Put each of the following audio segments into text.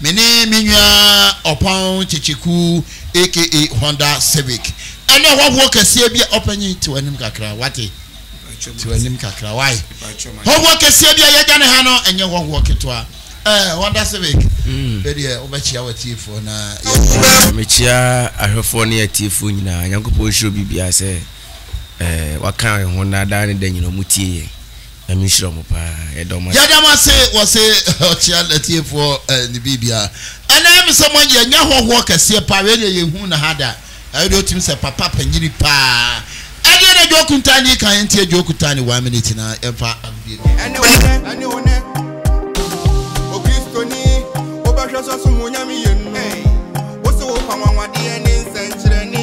Me ne me nua ɔpɔn kyekyekuw aka Honda Civic. Ɛnɛ hɔhoɔ kɛseɛ bi a ɔpanyin te w'anim kakra wate te w'anim kakra wae. Hɔhoɔ kɛseɛ bi a yɛgya ne ha no ɛnyɛ hɔhoɔ ketewa. Eh, Honda Civic. Bɛdeɛ wobɛkyia w'atiefoɔ na yɛ. Mekyia ahwɛfoɔ ne atiefoɔ nyinaa. Nyankopɔn nhyira obibiara sɛ eh, waka yɛn ho na daa ne da nyinaa wɔtie yɛn. Nyame nhyira mo paa yɛda mo ase. Yɛda mo ase wɔse ɔkyea natiefoɔ ne biribia ɛna ɛyɛ me sɛ mo yɛ nyɛ hɔhoɔ kɛseɛ paa wei deɛ yɛ huu no ha da ɛyɛ deɛ ɔtumi sɛ papa panyini paa ɛdeɛ na dwoo kuntaa ne kan yɛntie dwoo kutaa ne one minute na yɛmfa agodie no ɛne wo nɛ ɛne wo nɛ okristoni wobɛhwɛ sɔsom wo nyame yɛ nu wo se wo pa nwanwadeɛ ne nsɛnkyerɛne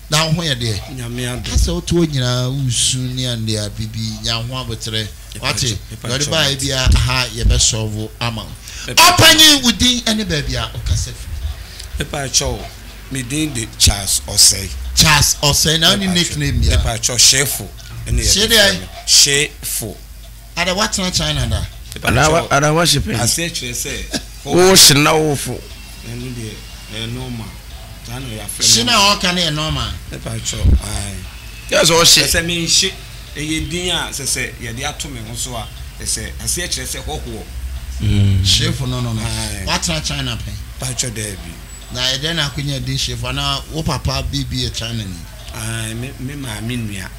Na wo ho yɛ deɛ? Nyame adom. Ha sɛ wote hɔ nyinaa woresu ne andeɛ bibi nya wo ho aboterɛ wate? Deɛ ɔde baeɛ biara aha yɛbɛ sɔvo ama wo. Ɔpanyin wo din ne baabi a wo kasa firi. Mepa kyɛw o, me din de Charles Ɔsɛe. Charles Ɔsɛe, na wonni nickname biara? Mepa kyɛw Hyefo ne yɛde frɛ me. Hyee deɛn? Hyefo. Ada woatena China da? Ada woahyɛ pɛn? Aseɛ kyerɛ sɛ wohyɛ na wofo. Ɛno deɛ ɛyɛ normal. Saa na yɛafrɛ me. Hye no a ɔka no yɛ normal? Mepa kyɛ ae. Yɛ sɛ ɔhye. Ɛsɛ menhye. Ɛyɛ din a sɛ sɛ yɛde ato me ho so a ɛsɛ aseɛ kyerɛ sɛ hɔhoɔ. Hyefo no no no. Woatena China pɛn? Pa kyɛ daabi. Na ɛdɛn na akonya din hyefo anaa wo papa bi bi yɛ China ni? Ae, me maame nua.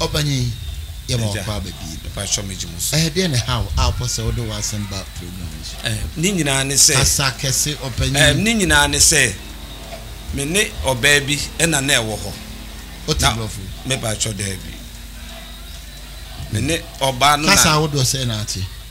Ɔpanyin, yɛma wakɔ aba pii no. Mpatsɔ megye mo so. Ɛdeɛn na ɛhaw a wopɛ sɛ wode w'asɛm ba program yi so? Ɛɛ, ne nyinaa ne sɛ. Kasa kɛse, ɔpanyin. Ɛɛ, ne nyinaa ne sɛ, me ne ɔbaa bi na na ɛwɔ hɔ. Wote Borɔfo? Mepatsɔ, daabi. Me ne ɔbaa no na. Kasa ahodoɔ sɛn na ate?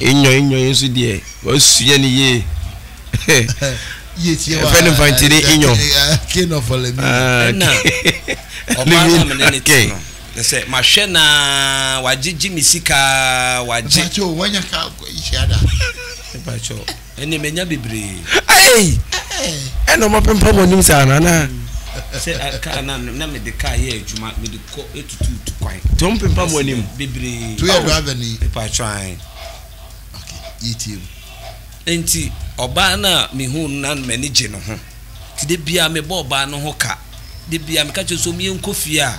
Inyɔinyɔi nso deɛ, wasua no yie. Ɛfɛ no mfantini inyɔ. Ɛna ɔbaa no a mene ne te no, na sɛ mahwɛ no ara, wagyegye me sika ara, wagye. Bakyɛ o, wanya ka nhyia da. Bakyɛ o. Ɛnneɛ manya bebree. Ei! Ɛna ɔma pempa mo anim saa no anaa? Sɛ kaa na na mede kaa yɛ adwuma mede kɔ tutu tu kwan. Nti ɔmo pempa mo anim. Bebree. To yɛ driver ni. Mepatwɔ ae. Okay, yɛtie mu. Nti ɔbaa no a mehuu no na m'ani gye ne ho. Nti da biara mebɔ ɔbaa no ho ka. Da biara meka kyerɛ no sɛ ɔmo yɛnkɔ fie a.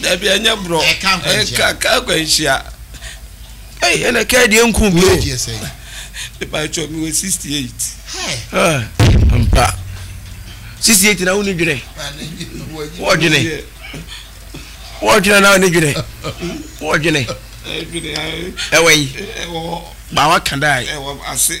Dabi ɛnyɛ borɔ. Ɛka nkwanhyia. Ɛka nkwanhyia. Ɛyi ɛna ɛka deɛ nku bi o. Wei deɛ sɛn. Epa atwa mi wɔ sixty eight. Ɛɛ mpa sixty eight na wo ni dwene. Wɔ dwene. Wɔ dwene na wo ni dwene. Wɔ dwene. Ɛwɔ yi. Ɛwɔ. Baawa kan daa yi. Ɛwɔ ase.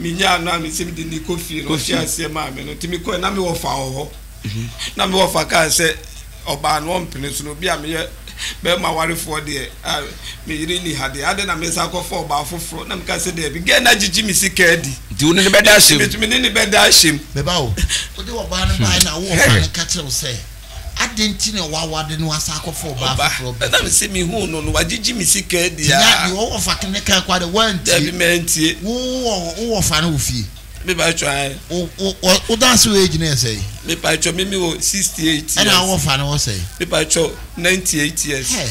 menyaa no a mesɛ mede ne kɔ fie no ɔte aseɛ maa me no nti mekɔɛ na mewɔ fa wɔ hɔ mhm. na mewɔ fa kaa sɛ ɔbaa no ɔmpene so no obi a meyɛ bɛrima warefoɔ deɛ a meyere ni ha deɛ ade na mesa akɔfa ɔbaa foforɔ na meka sɛ daabi gɛ na gyegye me sika adi nti wo ne ne bɛda ahyɛm metumi ne ne bɛda ahyɛm bɛba o wode ɔbaa no bae na wowɔ fa no ka kyerɛ wo sɛ Adɛn nti na w'awade no asan akɔfa ɔbaa Ɔba, foforɔ bi? ɛnam sɛ mehuu no no, wagyegye me sika adi Nti na a. deɛ ɔwɔfa ke ne kae koraa deɛ woantie. Dabi, mantie. Wo wɔ wo wɔfa no wɔ fie? Me pa kyɛw ae. Wo wo wɔ wo dan ase wɔ age no yɛ sɛn? Me pa kyɛw me me wɔ 68 years. Ɛna wo wɔfa no wɔ sɛn? Me pa kyɛw 98 years. Hɛ,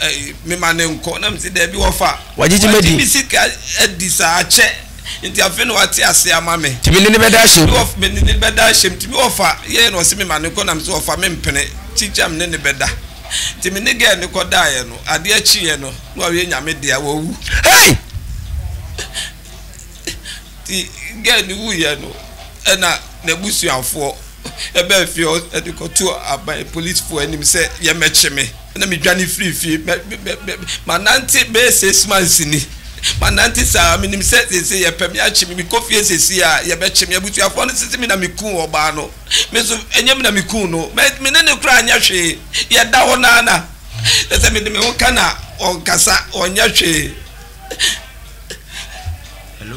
ɛɛ mema ne nkɔ na mesi daabi wɔfa. Wagyegye madi. Wagye me sika adi saa akyɛ nti afei na wate ase ama me. Nti me ne ne bɛda ahyɛ mu. Me ne ne bɛda ahyɛ mu nti me wɔfa yɛɛ na ɔse mema ne nkɔ na mesi wɔfa me mpene kyikyia me ne ne bɛda nti me ne gɛɛ no kɔ daeɛ no adeɛ kyeeɛ no na wawie nyame dea wawu. Hey! Nti gɛɛ no wuiɛ no ɛna n'abusuafoɔ ɛbɛɛ fie hɔ ɛde kɔto aban polisifoɔ anim sɛ yɛmɛkye me. na medwane firii fie. Mɛ, mɛ, mɛ, mɛ, manante bɛyɛ six months ni. Manante saa, menim sɛ seesei yɛpɛ me akye me, mekɔ fie seesei a, yɛbɛkye me. Abusuafoɔ no sese me na mekuu ɔbaa no. Me nso, ɛnyɛ me na mekuu no. Mɛ, me ne no koraa nyɛ hwee. Yɛda hɔ no ara na, na sɛ mede me ho ka na ɔnkasa, ɔnyɛ hwee. Hello?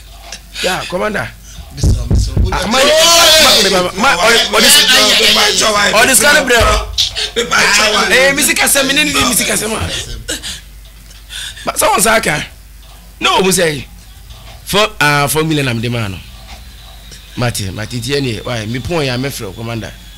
Yeah, commander. Ah, ma yɛ ma mi ba ma ɔdi ɔdi sika ne brɛ o. Ee misi kasa mi ne ni di misi kasa ma. Ba sɛ wɔn sa aka ne wɔn mu sɛ yi fɔ aa fɔ mi lɛ na mi de ma no. Mate mate tiɛ ni wa mi pɔn ya mɛ fɛ o commander.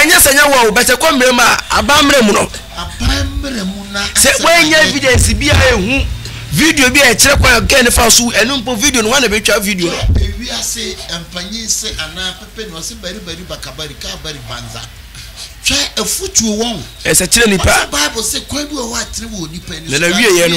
Ɛnyɛ sɛ ɛnyɛ wo a o, but sɛ ɛkɔ mmerɛ mu a, aban mmerɛ mu no, sɛ woannya evidence bi a ɛhu video bi a ɛkyerɛ kwan a girl no fa so wu, ɛno mpo video no, hwan na bɛtwa video no? Ɛsɛ kyerɛ nnipa, na n'awieɛ no.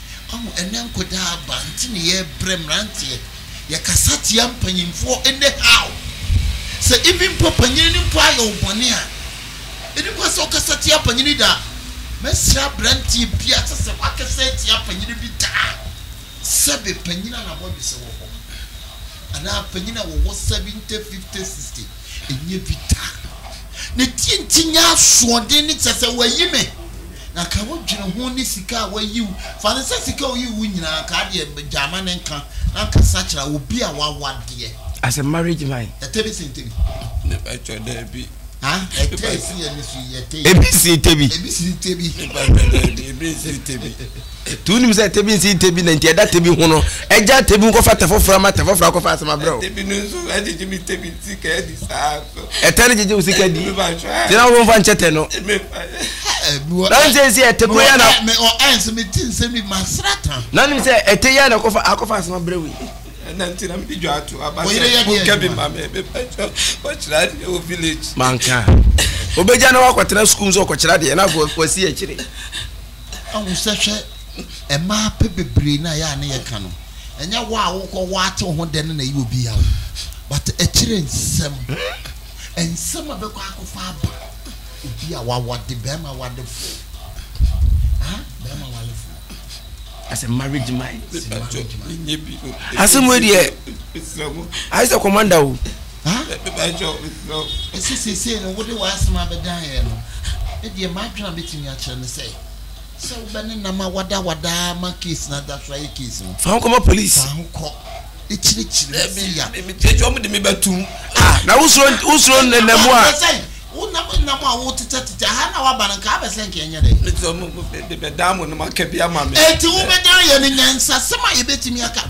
Wahu ɛnnɛ nkɔdaa aba nti ne yɛbrɛ mmeranteɛ yɛkasa tia mpanyinfoɔ ɛnnɛ how sɛ even mpo panyini no mpo ayɛ wo bɔne a ɛni kwan sɛ wokasa tia panyini da mɛsrɛ abranteɛ biaa sɛ sɛ wakasa atia panyini bi da a sɛbe panyini a nabɔdwesɛ wɔ hɔ anaa panyini a wɔwɔ 70 50 60 ɛnyɛ bi da ne tie nti nyɛ asoɔden ne kyɛ sɛ wayi me Na ka wo dwene ho ne sika a wayi wo. Fa no sɛ sika a ɔyii wo nyinaa nka adeɛ gyaa ma ne nka na nka sakyera obi a wawa deɛ. As a marriage man. Ɛtɛ bi sen tebi. Me pa kyɔ daabi. Haa ɛtɛ esi ani so yi ɛtɛ yi. Ebi sen tebi. Ebi sen tebi. Me pa kyɔ daabi ebi nsen tebi. Ti wo nim sɛ tebi nsen tebi na nti ɛda tebi ho no ɛgya tebi nkɔ fa tɛ foforɔ ma tɛ foforɔ akɔ fa asɛm abrɛ wo. Tebi no nso agyegye me tebi nti ka ɛdi saa. ɛtɛ no gyegye wo sika di gyina wo mfa nkyɛ tɛ no nansɛ si ɛtɛ kuro yɛ na nim sɛ ɛtɛ yɛ na akɔfa akɔfa asɛm abrɛ wei manka obɛgya na wakɔtena sukuu sɛ ɔkɔkyerɛ deɛ na wasi akyire Ahu sɛ hwɛ mmaa pɛ bebree no a ɛyɛ a ne yɛka no ɛnyɛ wo a wokɔ wo ate wo ho dɛ no na ɛyɛ obi yaw but akyire nsɛm nsɛm a bɛkɔ akɔfa aba obi a wawade bɛrima wadefo ah bɛrima wadefo as a marriage mind asɛm wei deɛ ayɛ sɛ commander o Haa me mebakyɛ wo mesrɛ wo. Ɛsɛ seesei no wode w'asɛm abɛdan yɛn no, me deɛ m'adwene a mɛtumi akyerɛ ne sɛ, sɛ wobɛne nam a wadawada ara ma case no ada so ayɛ case no. Fa ho kɔma police. Fa ho kɔ ɛkyirikyiri mu si ya. Daabi, mete sɛ wɔn de me bɛtum. Ah, na wosuro wosuro nnɛnam a. Abɛsɛ yi, wo nam nnam a wotetɛtetɛ aha na waba no nka abɛsɛ nka ɛnyɛ dɛ. Mete sɛ wɔn de bɛdan mo no maka bi ama me. Enti wobɛdan yɛn no nyansasɛm a yɛbɛtumi aka.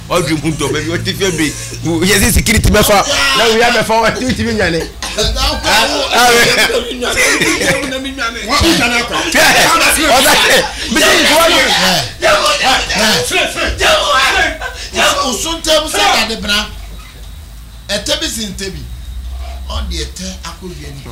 ɔdwi mu dɔ baabi ɔte fia bɛ yɛ sɛ sikiriti bɛfa na wia bɛfa wa ti ti mi nyane. osontɛm sɛ dade bena ɛtɛ bi si ntɛ bi ɔde ɛtɛ akɔdua nipa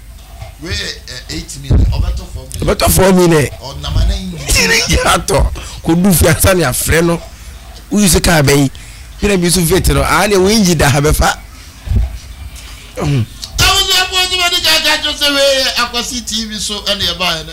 ɔbɛtɔ fɔɔ mi dɛ yiri gyina tɔ kò du fi ansa ni afrɛ no woyi so kaa bɛyi yɛrɛ bi so fit no aa ne wo engyi da ha bɛfa. abusuafo nso bɛdi kan aka kyerɛ sɛ wei yɛ akwasi tv so ɛna ɛbaeɛ no.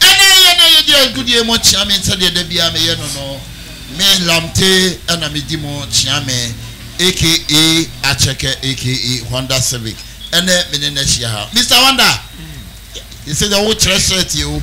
Ɛna ɛyɛ na yedi agudeɛ mo kyea me sɛdeɛ da biara meyɛ no no me Lamte ɛna medi mo kyea me aka Akyɛkɛ aka Honda Civic ɛnɛ me ne no ahyia ha Mister Honda yɛsɛ deɛ wo kyerɛ shirt yi o.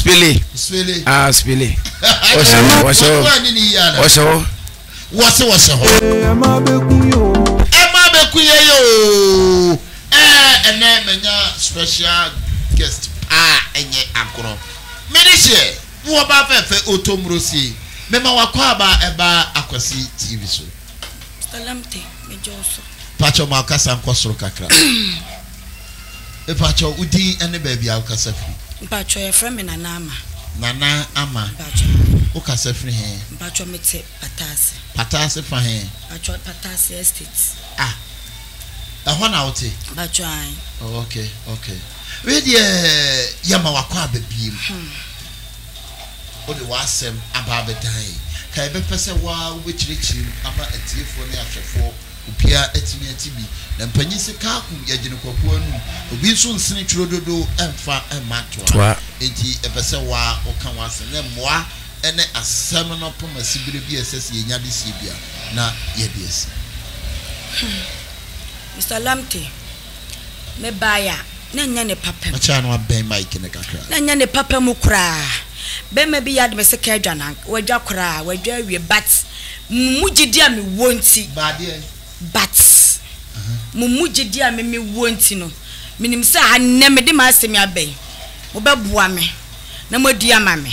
spele spele ah spele wɔhyɛ hɔ wɔhyɛ hɔ wɔhyɛ hɔ wɔse wɔhyɛ hɔ ɛma bɛku yɛ o ɛma bɛku yɛ yɛ o ɛɛ ɛnɛ manya special guest paa ɛnyɛ agorɔ mene hyɛ ne wɔba fɛfɛ otomuro sie mema wakɔ aba ɛba akwasi tv so pakyɛ ma ɔkasa nkɔ soro kakra Mpakyɛw wo din ne baabi a wo kasa firi. Mpakyɛw yɛfrɛ me Nana Ama. Nana Ama. Mpakyɛw aa. Wo kasa firi he? Mpakyɛw me te Pataase. Pataase fa he? Mpakyɛw Pataase estate. Ah ɛhɔ na wo te? Mpakyɛw ae. Oh ok ok wei deɛ yɛ ma wakɔ aba biem hmm wo de w'asɛm aba abɛdan yɛ ka yɛ bɛ pɛ sɛ waa wo bɛ kyerɛkyerɛ mu ama atiefoɔ ne ahwɛfoɔ Opia atimi ati bi na mpanyin se kaaku yɛ gyene kwaku anum obi nso nsene twuro dodo mfa mma toa enti epɛ sɛ waa oka w'asem ne mmoa ne asem no poma sibire bi a ɛsɛ sɛ yɛnya de sie bia na yɛde asi. Mister Lamptey, Mebae a, na ɛnyɛ ne papa mu. Ɔkyerɛ a na wabɛn mic no kakra. Na ɛnyɛ ne papa mu koraa. Barima bi yɛ ade me se ka adwa no anka wadwa koraa a, wadwa awie but mo mu gyidi a mewɔ nti, Baa deɛn? but mo mu gyidi a me mewɔ nti no, menim sɛ ha nnɛ mede m'asɛm yi aba yi, mobɛboa me na moadi ama me.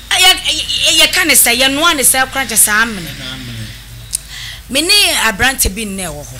Yɛ, yɛ, yɛka no sɛn? Yɛnoa no sɛn koraa nkyɛ sɛ amene. Ɛna amene. Me ne aberante bi nnɛ a ɛwɔ hɔ.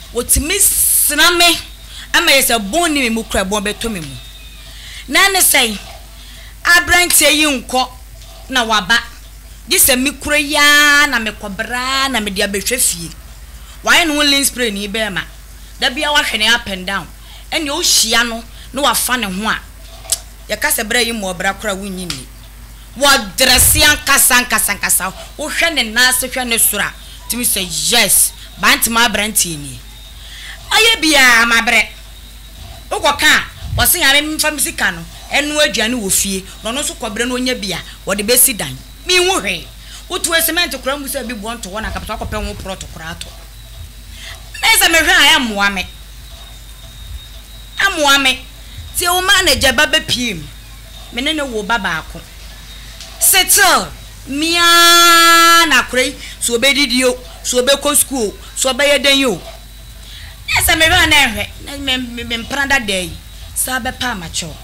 Wɔtumi sra me ma yɛ sɛ bɔn nni me mu koraa a bɔn bɛtɔ me mu. Na ɛne sɛn? Aberanteɛ yi nkɔ na waba, gye sɛ me kura yi ara na mekɔ brɛ ara na mede abɛhwɛ fie. Wayɛ ne ho linspreni bɛrima, da biara wahwɛ ne up and down. Ɛnneɛ wohyia no na wafa ne ho a, yɛka sɛ bra yi mmɔɔ bra koraa a wonnye nni. wɔ dresse ankasa ankasa ankasa wo hwɛ ne nan ase hwɛ ne soro a tumi sɛ yes bantema abranteɛ nie mayɛ biaa mabrɛ wo kɔ ka a wɔse nyame mfa me sika no ɛnoa aduane wɔ fie na ɔno nso kɔ brɛ no ɔnya bia wɔde bɛsi dan me nhu hwee wo to cement koraa mu sɛ bi boɔ nto hɔ na kapata akɔ pɛ ho prɔto koraa atɔ me sɛ me hwɛ a ɛmmoa me ɛmmoa me tie wo ma na gya ba bɛ pie mu me ne no wo ba baako settle me aa na akora yi so obedidi o so obekɔ school o so ɔbɛyɛ dɛn o na sɛ mehwɛ a na ɛhwɛ na me mpena dadaa yi saa bɛpa a makyɛ o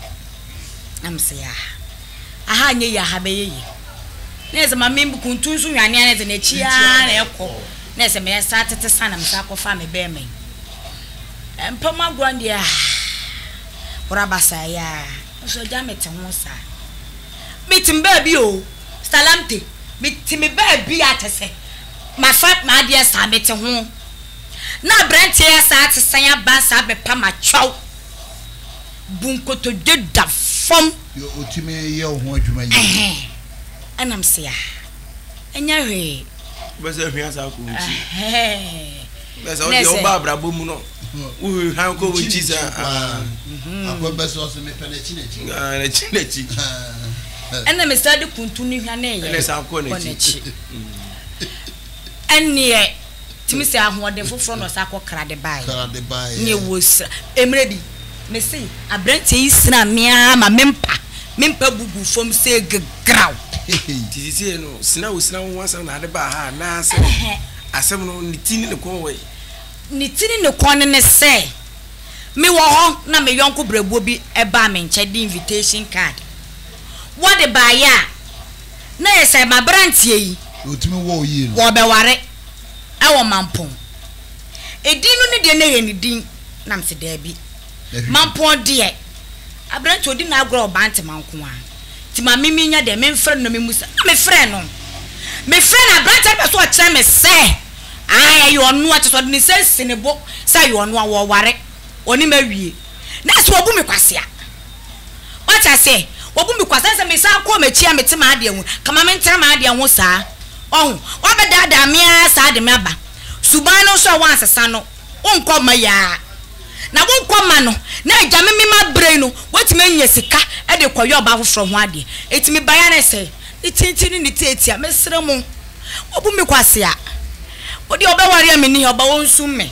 na me se yaa aha nyɛ yi aha bɛyɛ yi na sɛ ma me kuntu nso nwanea na sɛ n'akyi aa na ɛkɔ na sɛ me saa tete sa na me saa kɔfa me bɛɛma yi mpam agorɔ deɛ aa Wora basaa yi aa nso agya me te ho saa Me te me baabi oo Salamte Me te me baabi a kyɛ sɛ ma fa m'adeɛ saa Me te ho na abranteɛ a saa te san aba saa bɛ pa ma kyɛw Bu nkotodwe da fam Deɛ ɔtumi yɛ wo ho adwuma yie. Ɛhɛn ɛnam se aa ɛnyɛ hwee. wobɛsɛ ahwia saa kɔ nkyi bɛsɛ wode woba abrabɔ mu no wohwehwan kɔ wo nkyi sɛ nakyi nakyi ɛna mesa de kuntu no hwa ne yɛ kɔ nakyi ɛneɛ tumi sɛ ahoɔden foforɔ na ɔsa kɔ krade baeɛ ne ɛwɔ sira mmerɛ bi Me se abranteɛ yi sraa me ara ma me mpa me mpa bu guu fam sɛ gegraw. Hehe. Nti sesei no sina wo sina wo ho asɛm na ade baa ha anaa sɛ asɛm no ne ti ne ne kɔn wɔ he? Ne ti ne ne kɔn no ne sɛ me wɔ hɔ na me yɔnko brɛboɔ bi baa me nkyɛn de invitation card. Wɔde baeɛ a na yɛ sɛ m'abranteɛ yi wɔɔbɛware wɔ Mampong. Edin no ne deɛ na ɛyɛ ne din? Na mese, Daabi. Mampɔn deɛ, aberanteɛ ɔdi n'agorɔ wɔ Bantama nko ara, nti ma me menya dɛn, memfrɛ no na memmusa? Na mefrɛɛ no. Mefrɛɛ no, aberanteɛ no pɛ sɛ ɔkyerɛ me sɛ, ae, ɛyɛ ɔno ara, kyerɛ sɛ ɔde ne nsa asi ne bo sɛ ɛyɛ ɔno ara, wɔreware, ɔne me awie. Na ɛsɛ sɛ wɔbu me kwasea. Wate aseɛ? Wɔbu me kwa. Sɛ sɛ mesan kɔ m'akyi a mete m'adeɛ ho, ka ma mentena m'adeɛ ho saa. Wahu? Wɔabɛdaadaa me ara saa de me aba. Suban no nso a woansesa no, wonkɔ mma yi ara. Na wonkɔ mma no, na agya me me mma berɛ yi no, woatumi anya sika de rekɔyɛ ɔbaa foforɔ ho adeɛ. Enti me baeɛ ara ne sɛ, ne tintin ne ne tiatia, mesrɛ mo, wɔabu me kwasea. Wo deɛ wobɛware a menni ha, ɔba wɔnsum me.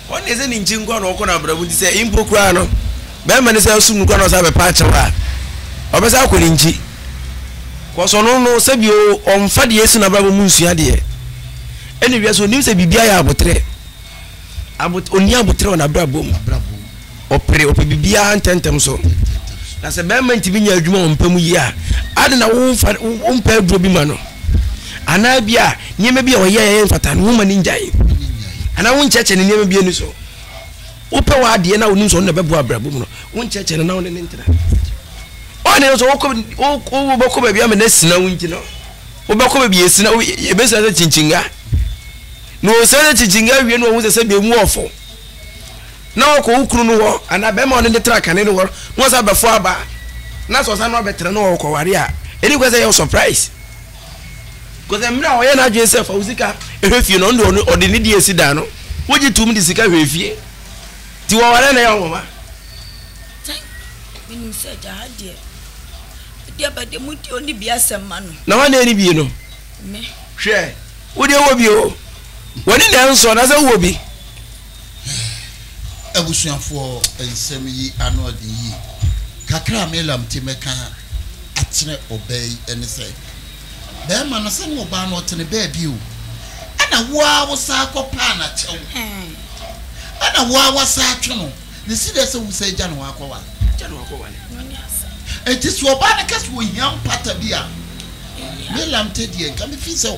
Ɔno deɛ sɛ ne nkyen nkoa na ɔkɔ no abrabɔ nti sɛ mpo koraa no bɛɛma no san sum no koraa na ɔsan bɛpa akyɛw a ɔbɛsan akɔ ne nkyi cos ɔno no sɛbi o ɔnfa deɛ ɛsi no abrabɔ mu nsua deɛ ɛna wiase onim sɛ biribi ayɛ aboterɛ abot ɔni aboterɛ wɔ nabrabɔ mu. Ɔpere, ɔpɛ biribiara ntɛmntɛm so. Na sɛ barima ntumi nya adwuma wɔ mpa mu yie a, ade na womfa wompɛ aduro bi ma no. Anaa bi a nneɛma bi a ɔyɛ ɛyɛ mfata no woma no ngyae. Anaa wonkyɛkyɛ ne nneɛma bi ani so. Wopɛ w'adeɛ na wonim sɛ ɔno na ɛbɛboa abrabɔ mu no, wonkyɛkyɛ no na wone ne ntena. Ɔne no sɛ wobɛkɔ baabi ama no asina wo nti no, wobɛkɔ baabi asina, yɛbɛsina sɛ kyinkyinnga. Na ɔsina sɛ kyinkyinnga wie no ɔhu sɛ sɛ bɛmu ɔfo. na ɔkɔ wo kunu no hɔ anaa bɛrima a ɔne no tra kane no hɔ na ɔsan bɛforo aba a, na sɛ ɔsan no abɛtra na ɔkɔware a, ɛni kwan sɛ ɛyɛ wo surprise. Kɔsɛ mmerɛ a ɔyɛ n'adwene sɛ fa wo sika hwɛ fie no, ɔno deɛ ɔde ne deɛ si dan no, wogye tom de sika hwɛ fie. Nti wɔware na ɛyɛ nwoma. Menim sɛ agya ha deɛ, wode aba deɛ mu deɛ ɔni bi asɛm ma no. Na wɔn ani bi no? Me. Hwɛ, wo deɛ wɔ bi o. Wɔne na ɛnsɔ na sɛ wowɔ bi. Abusuafoɔ, nsɛm yi ano ɔden yie. Kakra a Melam te mɛka akyerɛ ɔbaa yi ɛne sɛ, bɛɛma no sɛne ɔbaa no ɔtene baabi o, ɛna wo ara wo saa kɔ paa na kyɛw, ɛna wo ara wa saa twe no, ne si dɛ sɛ wo saa gya no hɔ akɔ wa. Enti sɛ ɔbaa no kɛ sɛ ɔhia mpata bi a, Melam te deɛ nka me fi sɛ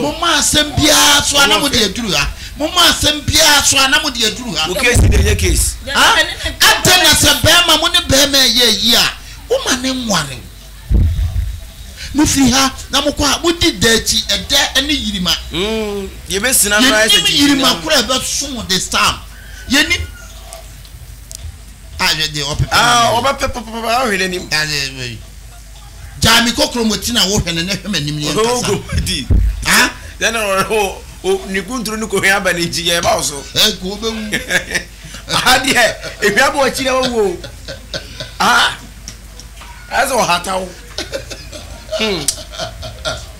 Momma asɛm biara so a na mode aduru ha. Momma asɛm biara so a na mode aduru ha. Adɛn na sɛ barima mo ne barima ɛyɛ ayi a, woma ne nwa ne wo. Mofiri ha na mokɔ a, modi da akyi, ɛdɛ ne yirima. Yɛnim yirima koro a ɛbɛso mo de stam. Yɛnim. Ahwɛ deɛ ɔpepɛ. Ɔbɛpɛ papapapa ahwɛ n'anim. Gyae me kokorom wɔ ti na wo hwɛ no na hwɛ m'anim ne yɛn kasa. Ogo di. Ah? Then ɔrɛ o ne kunturu ne kohwɛ aba ne nti yɛ ba wo so. Ɛ ko bɛ wu. Aha deɛ ehwɛ abɔ akyi na wawu o. Ah? Ɛsɛ ɔhata wo. Hmm.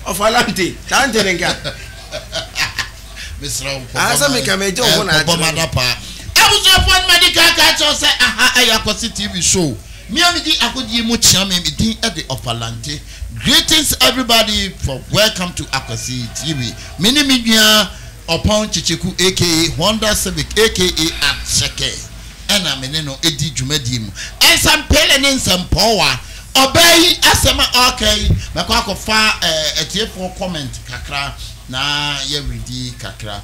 Ɔfa lante. Lante ne nka. Mesrɛ wo, kɔbɔ Ansa meka me agya ɔho na akyerɛ no. m'adapaa. Abusuafoɔ no ma di kan ka kyerɛ wo sɛ aha ɛyɛ Akwasi TV show. Me a medi agodie mu kyea me, me din de Ɔfalante. Greetings everybody for Welcome to Akwasi TV. Me ne me nua Ɔpɔn Kyekyeku aka Honda Civic aka Akyɛkɛ ɛna me ne no di dwumadie mu. Nsɛmpele ne nsɛmpɔwa. Ɔbaa yi asɛm a ɔreka yi, mɛkɔ akɔfa atiefoɔ comment kakra. Na yɛredi kakra.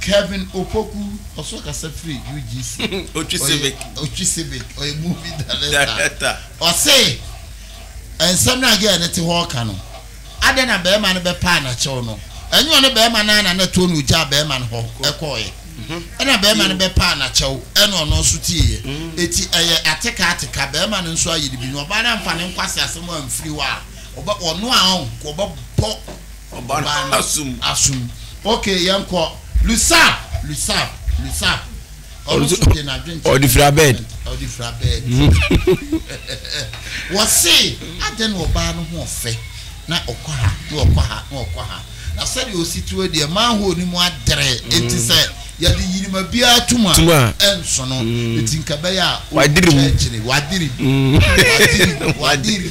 Kevin Opoku, ɔso ɔkasa firi UGC. Otwi Civic. Ɔyɛ Otwi Civic, ɔyɛ movie director. Director. Ɔse, Nsɛm no a girl no te hɔ reka no, adɛn na barima no bɛpaa no akyɛw no? Ɛnyɛ ɔne barima no ara na na ɛtoɔ na ɔgyaa barima no hɔ kɔeɛ. Ɛna barima no bɛpaa no akyɛw, ɛna ɔno nso tieeɛ. Enti ɛyɛ ateka ateka, barima no nso ayɛ no bi. Na ɔbaa no amfa ne nkwaseasɛm amfiri hɔ a, ɔbɛ, ɔno a ɔn, nka ɔbɛbɔ Ɔbaa no asum. Asum. Okay, yɛn kɔ. Lusab, lusab, lusab. Ɔno nso de n'adwene kyerɛ. Ɔde fira bɛɛd. Ɔde fira bɛɛd. Wɔse adɛn na ɔbaa no ho ɔfɛ na ɔkɔ ha na ɔkɔ ha na ɔkɔ ha na sɛdeɛ ɔsi teɛ deɛ manhole no mu adere eti mm. sɛ yɛde yinima biara tum a ɛnso no mm. eti nka bɛyɛ a ɔkyɛkyere wadiri wadiri wadiri.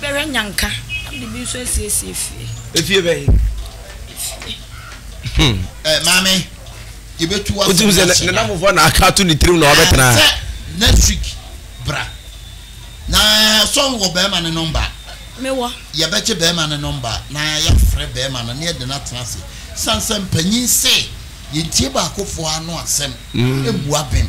Bɛhwɛ nya nka na mede bi nso asiesie fie. Efie bɛyi. Efie. Hmm. Ɛ eh, maame yɛbɛtu wa. Wotum sɛ ne namfofoɔ na aka ato ne tirim na ɔbɛtena. Ah, sɛ next week bra na sɔn wɔ bɛrima ne nɔmba. Mewɔ. Yɛbɛgye bɛrima ne nɔmba na yɛafrɛ bɛrima no ne yɛde no atena ase. San sɛ mpanyin se yɛntie baakofoɔ ano asɛm. Mmua hmm. bɛn.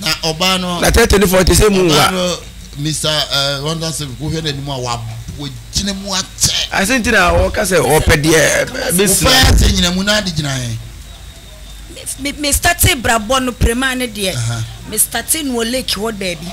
Na ɔbaa no. Na tɛtɛ ne fɔ te sɛ mu wa. Mr. Ronda sɛ wohwɛ n'anim a wagyina mu akyɛ. Ase nti na wɔka sɛ ɔpɛ deɛ bɛsi. Wofɛ ase nyina mu na ade gyina he. Mestate brabɔ no prema ne deɛ. Mestate no wɔ lake hɔ baabi.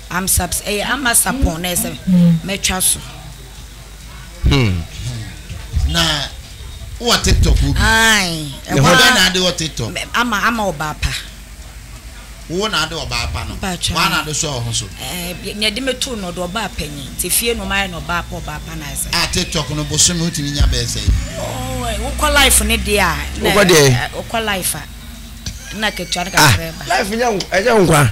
I'm subs ɛyɛ ama sapon na ɛsɛ mɛtwa so. Hmm. Na wɔ TikTok wo bi. Ayi. Ɛhɔ dɛ na ade wɔ TikTok. Ama ama ɔbaa pa. Wo na ade ɔbaa pa no. Wa na ade so ɔho so. Ɛɛ na ɛde meto no ɔde ɔbaa panyin. Te fie no mayɛ no ɔbaa pa ɔbaa pa na ɛsɛ. A TikTok no bosom no tumi nya bɛɛ sɛ. Oh, wokɔ life ne de a. Wokɔ de. Wokɔ life a. Na ketua no kakra ba. Life nya ɛnyɛ nkwa.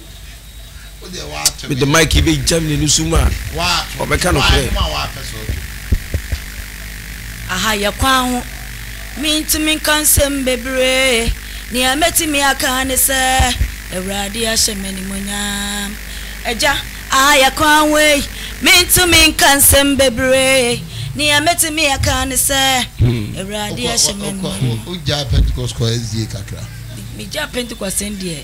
mede mike yi bɛgyam n'ani so mu a ɔbɛka nokorɛ aha yɛ kwan ho mentumi nka nsɛm bebree nea mɛtumi aka ne sɛ awurade ahyɛ m'animonyam agya aha yɛ kwan ho ei mentumi nka nsɛm bebree nea mɛtumi aka ne sɛ awurade ahyɛ m'animonyam megya pentecost sɛn deɛ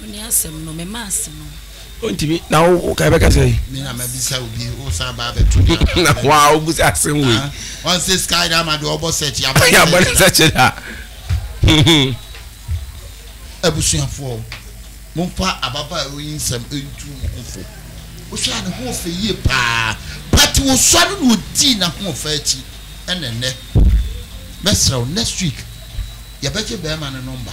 Wo ne asɛm no, mema ase no. Ontumi, na wo wo ka bɛka sɛn? Me na mabisa wo bi, wo san ba abɛto me aba. Na wo a wobusa asɛm wei. Ah, ɔn sɛ sika yɛ ama deɛ ɔbɔ sɛkyi abɔ ne sɛkyi. Abɔ ne sɛkyi da. Abusuafoɔ, momfa ababaawa yi nsɛm ntu mo ho fo. Wohwɛ a ne ho ɔfɛ yie paa, but wosɔre na odii n'ahoɔfɛ akyi ɛna ɛnɛ. Mɛsrɛ wo, next week yɛbɛgye bɛɛma no nɔmba.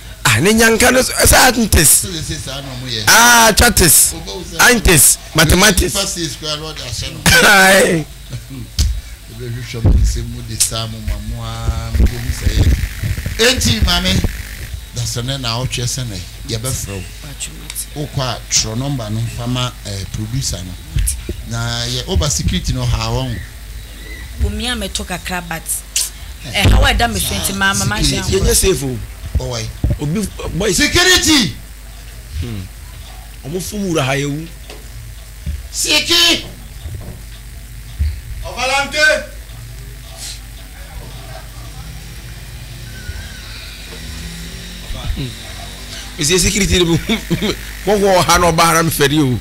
ah ne nyanka no sɛ antes ah chates antes mathematics bɛhwehwɛ mo nsɛm mu de saa mo ma mo a mode hu sɛ yɛ enti maame da sɛ ne na ɔtwɛ sɛ ne yɛbɛfrɛ wo wokɔ a twerɛ nɔmba no fa ma eh, producer no na yɛ woba security no haa wɔn bumi a mɛtɔ kakra but ɛhaw a ɛda me so nti mamma m'adwene ankɔ. Yɛnyɛ safe o. Ɔwai. Obi boy. Security. Hmm. Ɔmo fom wura ha yɛ wu. Siki. Ɔvalanke. Hmm. Mesi security ni mo mo wɔ ha na ɔbaa na mi fɛ de o.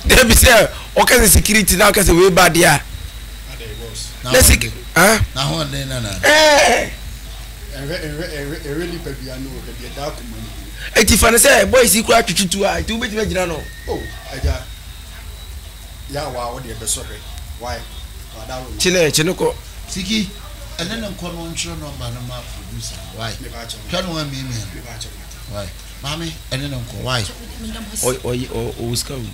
Dɛbi sɛ ɔkasa security na ɔkasa wei ba de a. lɛsik ɛti fa no sɛ boys yi koraa twetwetu a ɛti wobɛtumi agyina no kyene kyene kɔ siki ɛne ne nkɔ no ntwerɛ nɔmba no ma producer no wae hwɛ no wamiamia no wae maame ɛne ne nkɔ wae ɔwɔ sika wom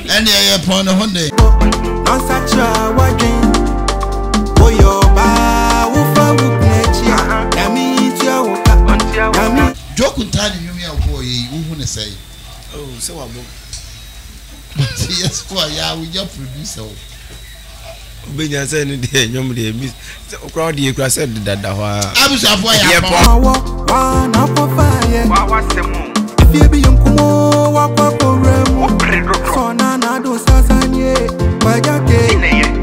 Ɛnneɛ yɛpɔn ne ho de. Nɔnsakyera w'adwen Woyɛ ɔbaa wofa wo kunu akyi a Nyame ntua wo ka Nyame. Joku ntaa ne nnwom yi a wobɔɔ yɛ yi wohu ne sɛn? Oh sɛ wabɔ. But yɛse wayɛ a wonya producer o. wobɛnya sɛ no deɛ nwom deɛ bi wokora wode yɛ kura sɛ dedada hɔ a abusuafoɔ yɛ apɔ awɔ wana pɔpa yɛ wawasɛm afie bi yɛ nkumo wakɔ akɔwura mu sɔna na ado sasanie wagya ke